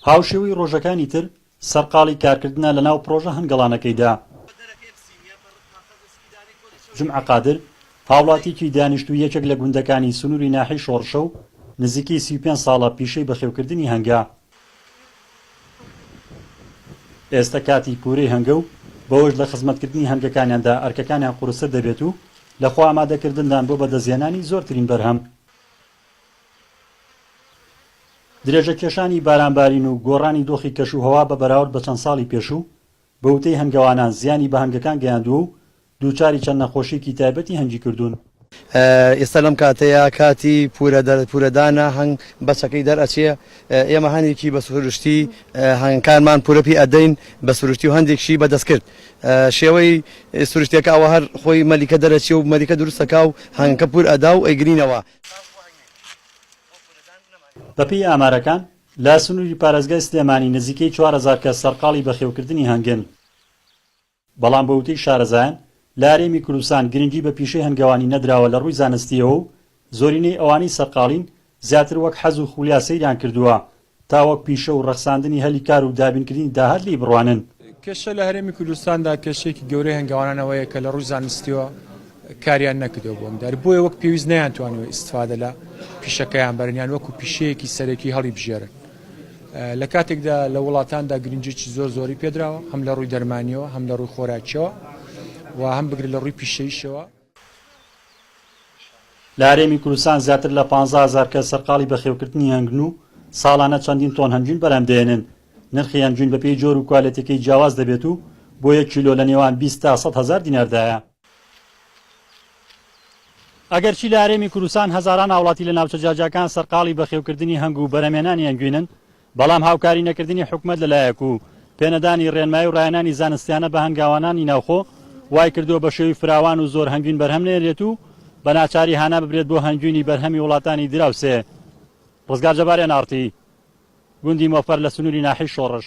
هاوشێوەی ڕۆژەکانی تر، سەرقاڵی کارکردنە لە ناو پڕۆژە هەنگەڵانەکەیدا. جومعە قادر، هاوڵاتییەکی دانیشتووی یەکێک لە گوندەکانی سنووری ناحیەی شۆڕشە و نزیکەی سی و پێنج ساڵە پیشەی بەخێوکردنی هەنگە. ئێستە کاتی کورەی هەنگە و بەوەش لە خزمەتکردنی هەنگەکانیاندا ئەرکەکانیان قورستر دەبێت و لە خۆئامادەکردندان بۆ بەدەستهێنانی زۆرترین بەرهەم. درێژەکێشانی بارانبارین و گۆڕانی دۆخی کەشوهەوا بە بەراورد بە چەند ساڵی پێشوو، بە وتەی هەنگەوانان زیانی بە هەنگەکان گەیاندووە و دووچاری چەند نەخۆشییەکی تایبەتی هەنگی کردوون. ئێستا لەم کاتەیا کاتی پورەدانە، هەنگ بەچەکەی دەرئەچێ، ئێمە هەنێکی بە سروشتی هەنگەکانمان پورە پێ ئەدەین بە سروشتی و هەندێکشی بە دەستکرد. شێوەی سروشتیەکە ئەوە هەر خۆی مەلیکە دەرەچیە و مەلیکە دروست ئەکا و هەنگەکە پور ئەدا و ئەیگرینەوە. بەپێی ئامارەکان، لە سنووری پارێزگای سلێمانی نزیکەی چوار هەزار کەس سەرقاڵی بەخێوکردنی هەنگن، بەڵام بە وتەی شارەزایان لە هەرێمی کوردستان گرنگی بە پیشەی هەنگەوانی نەدراوە لە ڕووی زانستییەوە و زۆرینەی ئەوانەی سەرقاڵین زیاتر وەک حەز و خولیا سەیریان کردووە تا وەک پیشە و ڕەخساندنی هەلی کار و دابینکردنی داهات لێی بڕوانن. کێشە لە هەرێمی کوردستاندا کێشەیەکی گەورەی هەنگاوانان ئەوەیە کە لە ڕووی زانستییەوە کاریان نەکردووە بۆ ئەم دار بۆیە وەک پێویست نەیانتوانیوە ئیستفادە لە پیشەکەیان بەرن یان وەکو پیشەیەکی سەرەکی هەڵیبژێرن لە کاتێکدا لە وڵاتاندا گرنجێکی زۆر زۆری پێدراوە هەم لە ڕووی دەرمانیەوە هەم لە ڕووی خۆراکیەوە و هەم بگرە لە ڕووی پیشەیشەوە لە هەرێمی کوردستان زیاتر لە پازدە هەزار کەس سەرقاڵی بەخێوکردنی هەنگوین و ساڵانە چەندین تۆن هەنگوین بەرهەم دەهێنن. نرخی هەنگوین بەپێی جۆر و کوالێتیەکەی جیاواز دەبێت و بۆ یەک کیلۆ لە نێوان بیست تا سەد هەزار دیناردایە. ئەگەرچی لە هەرێمی کوردستان هەزاران هاوڵاتی لە ناوچە جیاجیاکان سەرقاڵی بەخێوکردنی هەنگ و بەرهەمهێنانی هەنگوینن، بەڵام هاوکاری نەکردنی حکومەت لە لایەک و پێ نەدانی ڕێنمایی و ڕایەنانی زانستیانە بە هەنگاوانانی ناوخۆ وای کردووە بە شێوی فراوان و زۆر هەنگوین بەرهەم نێرێت و بە ناچاری هانا ببرێت بۆ هەنگوینی بەرهەمی وڵاتانی دراوسێ. ڕزگار جەبار، ئێن ئاڕ تی، گوندی مۆفەر لە سنووری ناحیەی شۆڕش.